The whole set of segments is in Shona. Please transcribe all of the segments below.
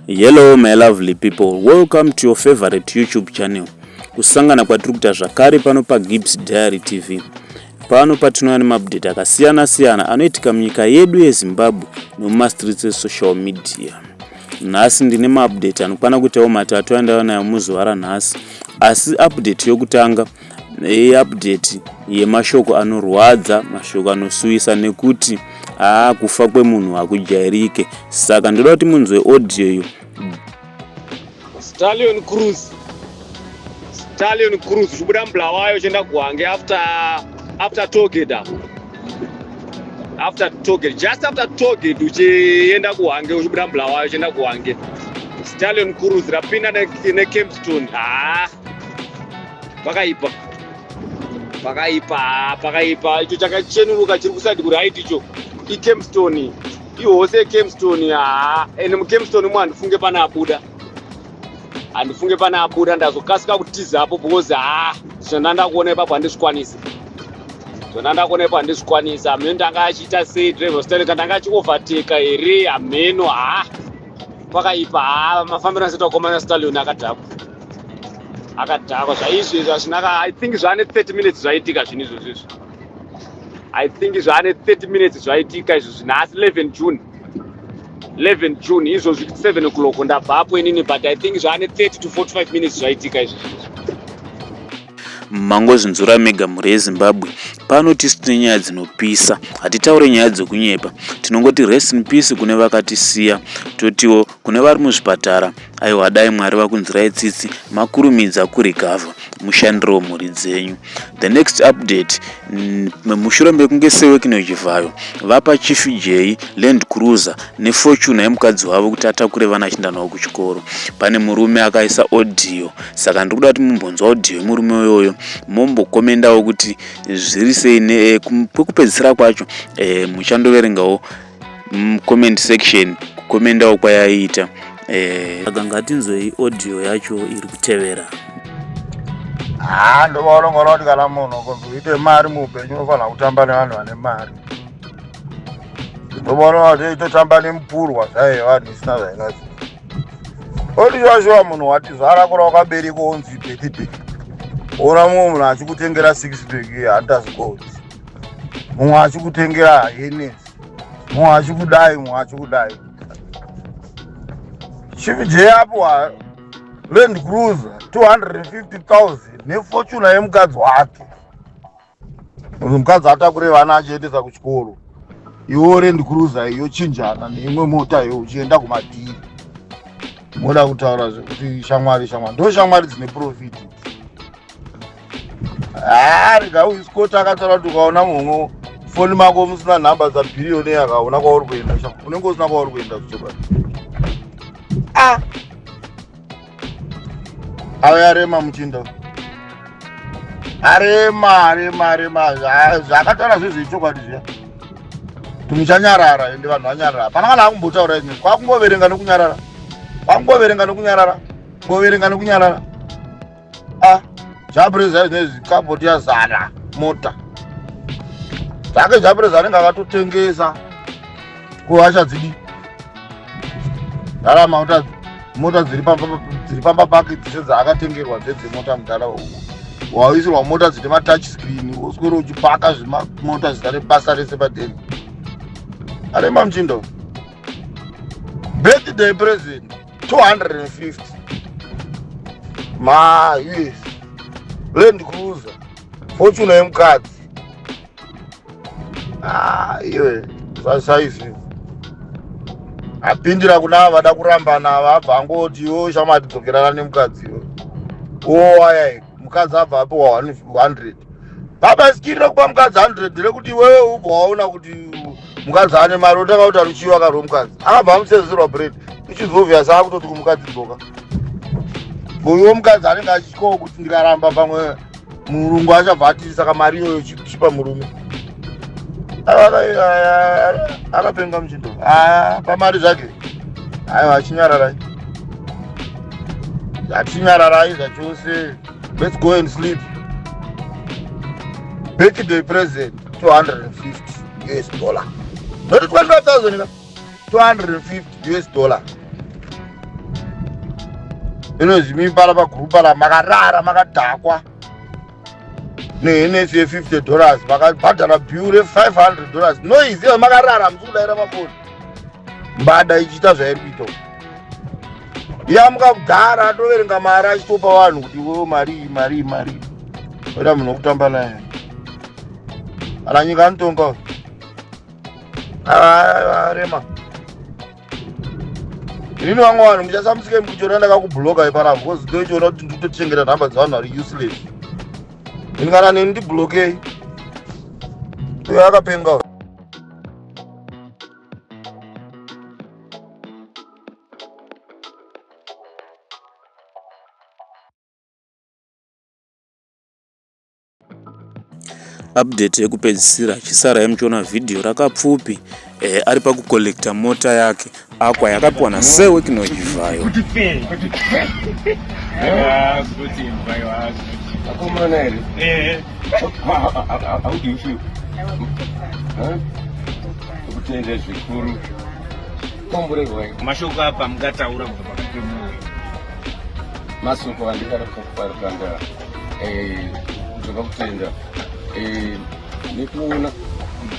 Hello my lovely people, welcome to your favorite YouTube channel. Kusangana kwatiri kuita zvakare pano paGibbs Diary TV. Pano patinouya nemaupdate akasiyana siyana anoitika munyika yedu yeZimbabwe nemumastreets esocial media. Nhasi ndine maupdate anokwana kuitawo matatu andava nayo muzuva ranhasi, asi update yokutanga yeupdate yemashoko anorwadza mashoko anosuwisa nekuti haa kufa kwemunhu hakujairike saka ndoda kuti munzwe audio yo stallion cruz stallion cruz uchibuda mubulawayo uchienda kuhange after after togate apo after togate just after togate uchienda kuhange uchibuda mubulawayo uchienda kuhange stallion cruz rapinda nekempstone haa pakaipa pakaipa pakaipa icho chakachenuruka chiri kusadi kuraiti icho ikemstone ihose yekemstone haa ende mukemstone umo handifunge pane abuda handifunge pane abuda ndazokasika kutiza apo because haa zvona ndakuona ipapo handizvikwanisi zvona ndakuona ipapo handizvikwanisi amheno ndanga achiita sei driver staneka ndanga achioverteka here amheno haa pakaipa haa mafambiro asitakomana stalion akadhakwa akadhakwa zvaizvi izvi hazvina i think zvaane 30 minutes zvaitika zvinhu izvozvo izvi i think zvaane 30 minutes zvaitika izvo zvino asi 11 june 11 june izvozvi 7 o'clock ndabvapo inini but i think zvaane 30 to 45 minutes zvaitika izvo mangozvinzura mega mhuri yezimbabwe pano tisu tine nyaya dzinopisa hatitaure nyaya dzokunyepa tinongoti rest in peace kune vakatisiya totiwo kune vari muzvipatara aiwa dai mwari vakunzirai tsitsi makurumidza kurecover mushandirewo mhuri dzenyu the next update mushure mekunge sewekino chivhayo vapa chief jay land cruiser nefortuna yemukadzi wavo kuti atakure vana achinda navo kuchikoro pane murume akaisa audio saka ndiri kuda kuti mumbonzwa audio yemurume uyoyo mombokomendawo kuti zviri sei eh, kwekupedzisira kwacho eh, muchandoverengawo comment section kukomendawo kwayaiita eh. saka ngatinzwei audio yacho iri kutevera haa ndovaonongona kuti kana munhu kuti uite mari muupenyu unofanira kutamba nevanhu vane mari ndovaononga kuti itotamba nemupurwa zvaive vanhu isina zvaingazi otishuashuwa munhu watizvara kura wakabereka onzi bhekibheki ona mumwe munhu achikutengera six bheki handitazikoti mumwe achikutengera hene mumwe achikudai mumwe achikudai chivijei apo land cruiser 250000 nefortuna yemukadzi wake mukadzi atakure vana achiendesa kuchikoro iwo land cruiser iyo chinjana neimwe mota iyo uchienda kumadhiri moda kutaura zvekuti shamwari shamwari ndo shamwari dzine profiti haa rega uyu scott akataura kuti ukaona mhomwo foni mako musina nhamba dzabhiriyoni akaona kwauri kuenda unenge usina kwauri kuenda zvichokwadi a ah! ave arema muchinda arema arema arema zvakataura zvezve ichokwadi zviya timuchanyarara ende vanhu vanyarara hapana kana akumbotaura izvi kwakungoverenga nokunyarara kwakungoverenga nokunyarara kungoverenga nokunyarara ah zvapreza zvine zvikaboti yazara mota zvake zvapreza anenge akatotengesa kuhasha dzidi dara mauta mota dziri pamba pake dzese dzaakatengerwa dzedzemota mudhara waisirwa mota dzine matouch screen woswere uchipaka zvemamota zita rebasa rese padeni arema muchindo birthday present 250 ma us land cruiser fortune yemukadzi ah, iwe saizvi apindira kuna vada kurambana vabva angotiwo shamati dzokerana nemukadzi iwe owayaiko mukadzi abva apiwa 100 baba sikiri rekupa mukadzi 100 rekuti iwewe ubva waona kuti mukadzi ane mari otanga kuti aruchiwa kari wemukadzi akabva amusenzerwa bread ichizovia saa kutoti kumukadzi mboka uyo mukadzi anenge achityawo kuti ndikaramba pamwe murungu achabva atiri saka mari iyoyo chipa murume akapenga muchindo ah, pamari zvake aiwa achinyararai achinyararai zvachose let's go and sleep back the present 250 us dollar not 25000 250 us dollar inozimipala pagurupala makarara makadhakwa nehenesi ye50 dollars makabhadhara bill re500 dollars noiziva makarara musi kudaira mafoni mbada ichiita zvairi kuita uku yamuka kudhara atoverenga mari achitopa vanhu kuti wo marii marii marii oita munhu wekutamba naye ana nyika anotonga arema Ini vamwe vanhu muchasamusike mukuchiona ndakakubloka ipana because ndochiona kuti ndikutochengeta nhamba dzevanhu vari useless. Ini kana neni ndiblokei. Uyo akapenga uyo. Update yekupedzisira chisarai muchiona video rakapfupi eh, ari pakucollecta mota yake akwa yakapiwa nasir wekinoivhayo kutenda zvikuru komborerwai mashoko apa mungataura kubva pakati pemoyo masoko andikada kufakufarukanga toda kutenda nekuona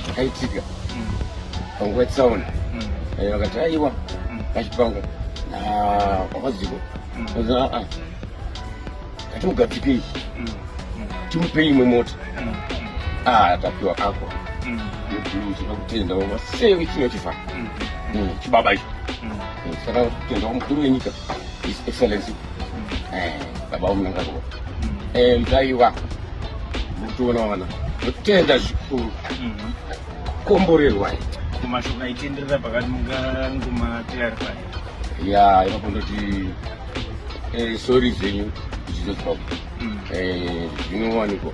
zvakaitika panguva yetsaona vakati aiwa pachipango kwakadziko aa ngatimugadzikei timupei imwe mota aa tapiwa ako toda kutenda vava sei vechino chifa chibaba icho saka kutenda kwamukuru wenyika his excellency eh, baba unanga ko eh mtaiwa mutoona wana kutenda zvikuru mhm. komborerwa kumashoko aitenderera pakati munganguma clarify ya ipapo ndoti eh, sorry zvenyu zvizodzwa mm. eh, zvinowanikwa